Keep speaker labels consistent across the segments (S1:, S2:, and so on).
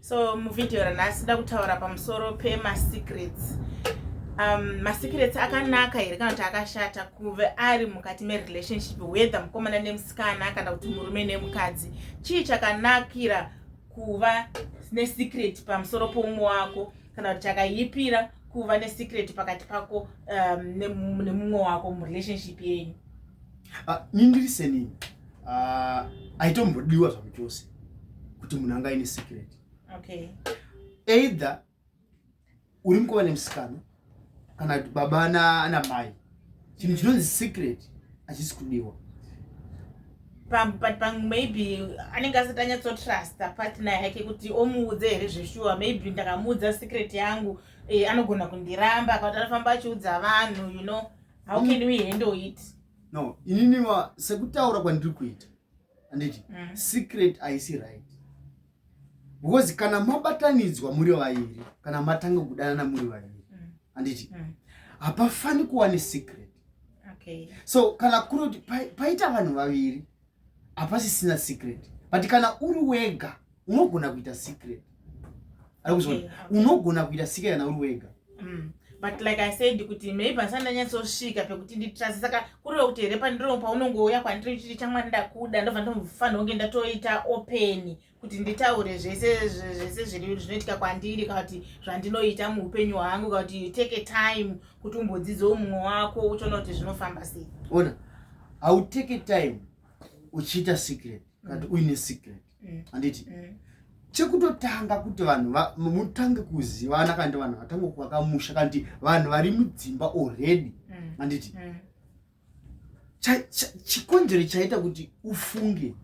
S1: so muvhidhiyo ranhasi da kutaura pamusoro pemasecrets um, masecrets akanaka here kana kuti akashata kuve ari mukati merelationship whether mukomana nemusikana kana kuti murume nemukadzi chii chakanakira kuva nesecret pamusoro poumwe wako kana kuti chakaipira kuva nesecret pakati pako um, nemumwe wako murelationship yenyu uh, ah,
S2: nindiriseni ah, aitombodiwa uh, zvamu chose kuti munhu anga aine secret okay.
S1: either
S2: uri mukova nemusikana kana kuti baba ana mai chinhu chinonzi secret achisi kudiwa
S1: maybe anenge asati anyatsotrusta partner yake kuti omuudze here zveshuwa maybe ndakamuudza secret yangu eh, anogona kundiramba kuti anofamba achiudza vanhu you know how can we handle it no inini
S2: sekutaura kwandiri kuita anditi mm. secret aisi right because kana mabatanidzwa muri vairi kana matanga kudanana muri vairi anditi mm. mm. hapafani kuwa nesecret okay.
S1: so kana kuri
S2: kuti paita vanhu vaviri hapasisina secret but kana uri wega unogona kuita secret aikuziva
S1: okay. unogona kuita
S2: secret kana uri wega mm. but like
S1: i said kuti maybe asati ndanyatsosvika pekuti nditrase saka kureva kuti here pandiro paunongouya kwandiri chiri chamwari ndakuda ndobva ndofanira kunge ndatoita openi kuti nditaure zvese zvese zvinoitika kwandiri kana kuti zvandinoita muupenyu hwangu kana kuti take a time kuti umbodzidzewo mumwe wako uchiona kuti zvinofamba sei ona
S2: hautake time uchiita secret kana kuti mm. uine secret mm. handiti mm. chekutotanga kuti vanhu mutange kuzivana kana kuti vanhu vatange kuvaka musha kana kuti vanhu vari mudzimba already handiti chikonzero chaita kuti ufunge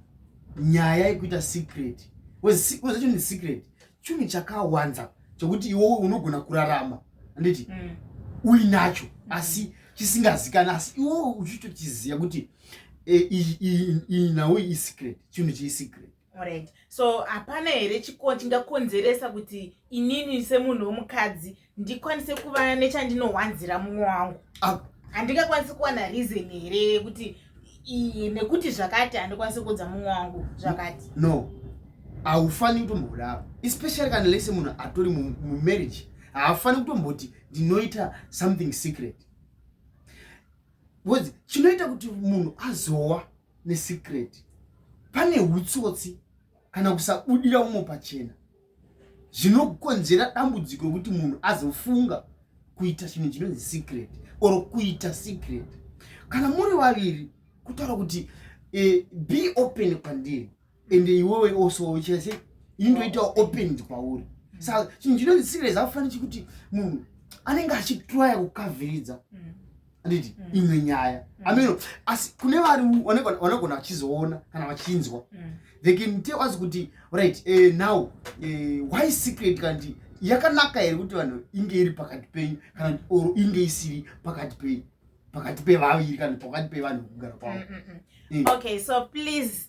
S2: nyaya yekuita secret wezachoni ndi secret chunhu chakawanza chokuti iwowe unogona kurarama anditi mm. uinacho asi chisingazikani asi iwowe uchitochiziva kuti eh, iyi nhau isecret chinhu chiisecret Alright. So
S1: hapana here chiko chingakonzeresa kuti inini semunhu womukadzi ndikwanise kuva nechandinowanzira mumwe wangu? Ah. Handingakwanisi ah. kuwana reason here yekuti nekuti zvakati handikwanisi kuudza mumwe wangu zvakati? No.
S2: Haufani kutombodaro. Especially kana lese munhu atori mumarriage. Haafani kutomboti ndinoita something secret. Because chinoita kuti munhu azowa nesecret pane hutsotsi kana kusabudira umo pachena zvinokonzera dambudziko rekuti munhu azofunga kuita chinhu chinonzi secret or kuita secret kana muri vaviri kutaura kuti e, be open kwandiri and iwewe also uchese indoita opened kwauri sa chinhu chinonzi serious afani chikuti munhu anenge achitraya kukaviridza anditi mm. imwe nyaya mm. ameno asi kune vari vanogona vachizoona kana vachinzwa mm. they can tell us kuti right eh, now eh, why secret kanti yakanaka here kuti vanhu inge iri pakati penyu kana or inge isiri pakati penyu pakati pevaviri kana pakati pevanhu kugara kwavo eh. okay
S1: so please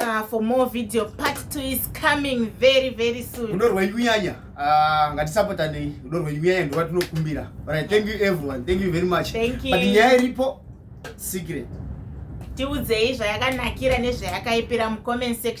S1: Uh, for more video part 2 is coming very very soon rudo rwenyu nyanya uh,
S2: ah, ngatisapotanei rudo rwenyu nyanya ndova tinokumbira but i thank you everyone thank you very much thank you. but nyaya iripo secret
S1: tiudzei zvayakanakira nezvayakaipira mucomment section